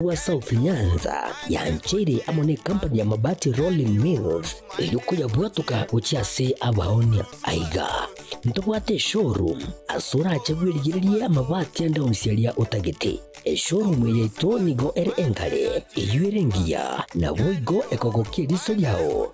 Bwa South Nyanza yancheire amo nekampani ya Mabati Rolling Mills erio koyabwatoka gochia ase abaonia. Aiga, ntobwate eshowroom ase orache bwerigererie amabati ande onsi aria otagete. Eshowroom yaito nigo ere engare, eyio ere engiya, naboigo ekogokia eriso riao.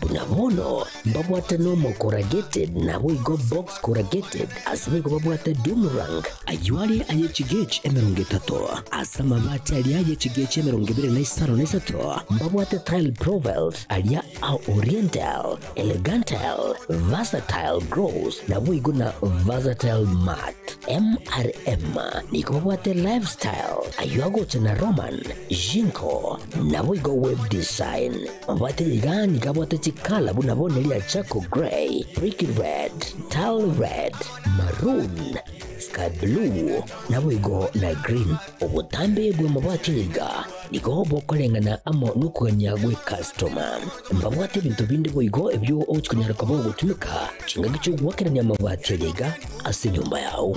buna mono mbabwate Nomo Corrugated naboigo Box Corrugated ase boigo babwate Dumrang ayio are aye chigechi emerongo etato ase amabati aria aye chigechi emerongo ebere na isano na isato mbabwate Tile Provelt aria a Oriental Elegantal Versatile Gross naboigo na Versatile Mart MRM nigo babwate Lifestyle ayio agocha na Roman Jinko naboigo Web Design Abwate rigani gabwate chikala buna bone ria charcoal grey, brick red, dull red, maroon, sky blue, naboigo na green. Obotambe bw'amabati aiga nigo bokoreng'ana amo nokogania gw'ekastoma. Mbabwate ebinto binde boigo ebio ogochia konyara koba ogotumeka chingaki chi'ogwakerania amabati ayaiga ase enyomba yao.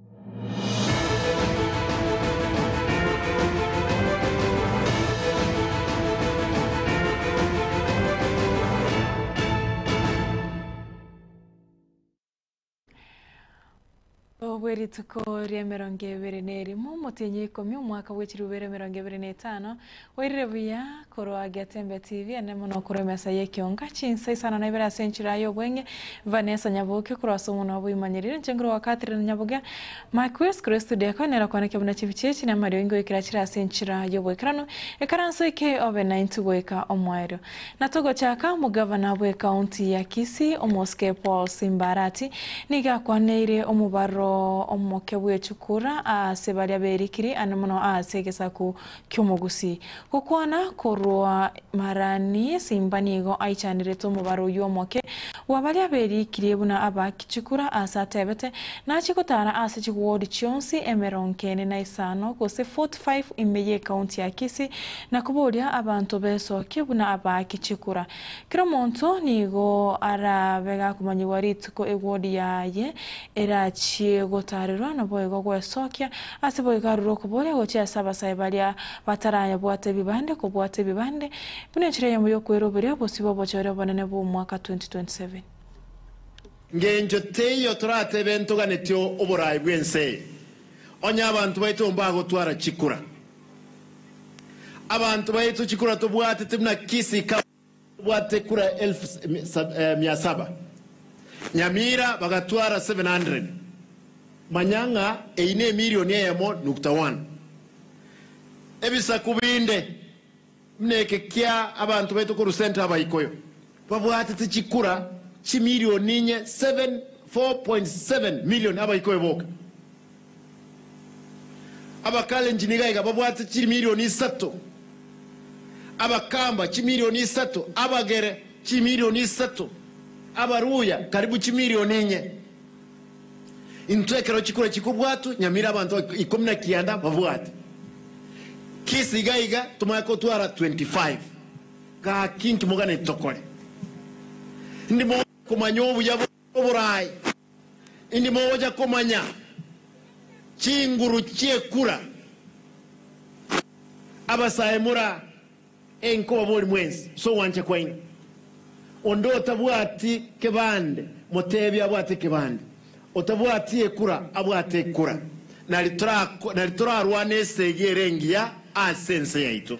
Obwe rituko ria emerongo ebere na erimo, omotienyi ikomi, omwaka bwe chirubero emerongo ebere na etano, Oirire buya korwa Getembe TV, enene mono korwa emesa y'ekionga, chinsa isano na ibere ase enchera y'obweng'e, Vanessa Nyabuke korwa ase omonwa oboimanyeriri, inche ngorwa owa Catherine Nyabuge, Mike Wills korwa estudio eko, nere okwanekire buna chibiche echi na amario ingo ekero achire ase enchera y'oboikeranu, ekaranso eke obe naintwe goika omwaero. Na togochaka, omogavana bw'ekaunti ya Kisii, omosike Paul Simba Arati, nigo akwaneire omobarro omoke bw'echukura aase baria berikiri ande mono aase egesaku ki'omogusii, gokwana korwa Marani, Simba nigo aichanerete omobaro oyio omoke bwa baria berikirie buna aba Kichikura aase atebete, nachie gotara ase chiwodi chionsi emerongo ene na isano gose 45 ime y'ekaunti ya Kisii, na koboria abanto besokie buna aba Kichikura. Kera omonto nigo arabe gakomanyigwa rituko egodi yaye erachie gotaarerwa, naboigo gwesokia ase boigo arure okoboria gochia ase abasae baria batarabwate ebibande kobwata ebibande buna enchera eyemo y'okweroberia obosio bw'obochore obonene bw'omwaka 2027. Ng'encho teiyo toratebe ntoganetie oboraai bw'ense eye, onye abanto baito mbagotwara chikura. Abanto baito chikura tobwatete buna Kisii County tobwatete kura elfu mia saba, Nyamira bagatwara 700, manya ng'a eyio nemirioni eyemo nukta one. Ebisaku binde Buna eke kia abanto baito korwa Centre Abaikoyo babwatete chikura chimilioni inye 7 4.7 million Abaikoyo boka Abakalenjin iga iga babwate chimilioni isato Abakamba chimilioni isato Abagere chimilioni isato Abaluya karibu chimilioni inye. Intwe ekero chikura chikobwatwa, nyamira abanto ikomi na kianda babwate kesi iga iga, tomanye kotwara 25. Gaki inki moganeti tokore? Indi mogocha komanya obuya bore oboraai? Indi mogocha komanya chinguru chi'ekura? Abasae mora! E Nkobabori mwensi ase ogwancha kwaino, onde otabwati kebande motebi abwate ekebande, otabwati ekura abwate ekura, nari torarwane esegi ere engiya ase ense yaito.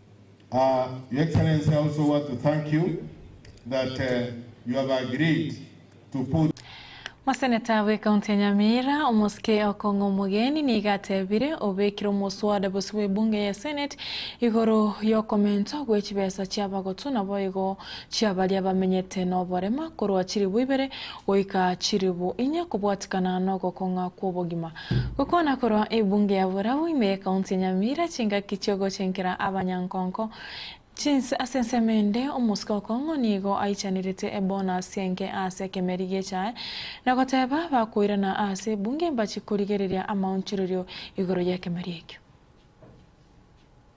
Your Excellency, I also want to thank you that you have agreed to put. Moseneta bwe county ya Nyamira, omosike Okong'o Omogeni nigo atebire obekire omoswada bosio bw'ebunge ye senate igoro yokomento gwe chibesa chiabagotu naboigo chia baria bamenyete noborema korwa chilibu ibere goika chilibu inye kobwatikana nogokong'a kwobogima Gokwana korwa ebunge ya Borau ime y'Ekaunti ya Nyamira, chingaki chi'ogochenkera abanyankonko chinse ase ensemo ende, omosike o Kong'o nigo aichanerete ebonasi enke ase ekemeri gi'echae, na goteba bakoirana aase ebunge mbachie korigereria amaonchorerio igoro y'ekemeri ekio.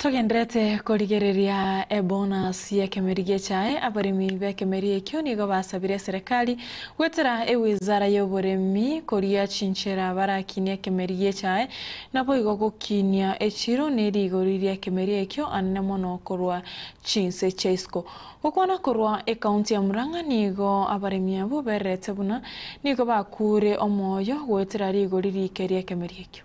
Togenderete korigereria ebonus y'ekemeri gechae, abaremi b'ekemeri ekio nigo basabire eserekari goetera ewizara y'oboremi koria chinchera barakinie ekemeri gechae, naboigo gokinia echiro ne rigori ri'ekemeri ekio anene mono korwa chinse chia isiko. Gokwana korwa ekaunti ya Murang'a nigo abaremi abwo bererete buna nigo bakuure omoyo goetera rigori riike ri'ekemeri ekio.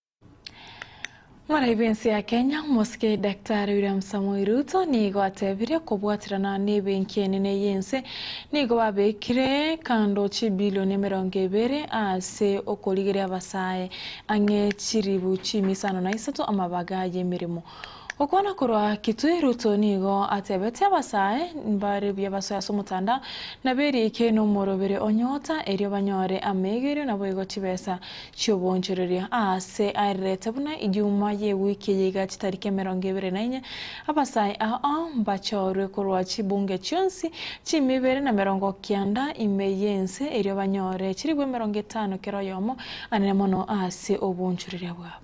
Moraia b'ense ya Kenya, omosike Daktari William Samoei Ruto nigo atebirie kobwaterana n'ebenki enene y'ense nigo babekire kando chibilioni emerongo ebere ase okorigeria abasae ang'e chiribu chimisaano na isato amabaga y'emeremo. Okwo nakorwa kitui Ruto nigo atebete abasae mbare buya basoe ase omotanda na beriike nomorobere o nyota erio banyore amaigerio naboigo chibesa chioboonchoreria. Aase aererete buna ijuma yewiki eye igachi tariki emerongo ebere na inye abasae aa mbachorwe korwa chibunge chionsi chiime ibere na merongo kianda ime yense erio banyore chiribu emerongo etano kera oyomo anene mono aase oboonchoreria bwabo.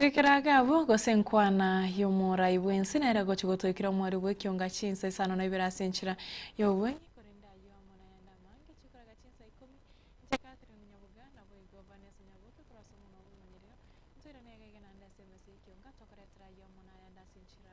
Gekera ake abwo, gose enkwana y'omorai bw'ense nere gochia gotoikera omwori bw'ekionga chinsa isano na ibere ase enchera y'obobeng'u, korende ayio amo nayande amange chikoraga chinsa ikomi. Inche Catherine Munyabuga, naboigo Vanessa Nyabuke korwa ase omonwa bw'emonyerero, ntoirane egege naende ase emesa y'ekionga, tokoretera ayio amo nayande ase enchera.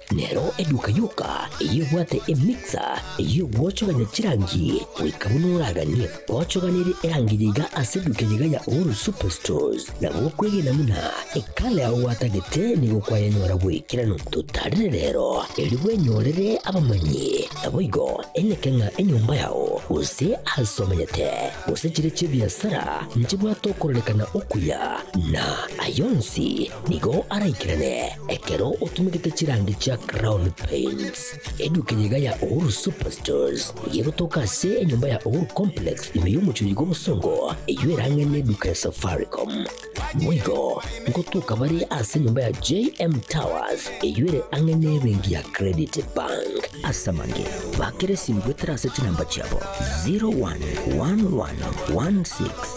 Nero eduka yoka eyebwate emixer ey'ogwochogania chirangi, goika buna oraganie gochoganera erangi yaiga ase eduka eyaiga ya Uhuru Superstores, na gokwegena buna ekala yao gwatagete nigo kwayanyora bw'ekerano. Totarire rero, erio bwenyorere abamanyi, naboigo eneke ng'a enyomba yao, gose aase omanyete, gose chiria chi'ebiasara nchibwate okorarekana okuya, na ayio onsi nigo araikerane. Ekero otumegete chirangi chia Crown Paints, eduka eye iga ya Uhuru Superstores nigo egotoka ase enyomba ya Uhuru Complex ime y'omochori bw'obosongo eyio erang'e n'eduka ya Safaricom. Boigo, ngotoka bare ase enyomba ya JM Towers eyio ere ang'e n'ebenki ya Credit Bank. Ase amang'e, bakera esimu goetera ase chinamba chiabo 011116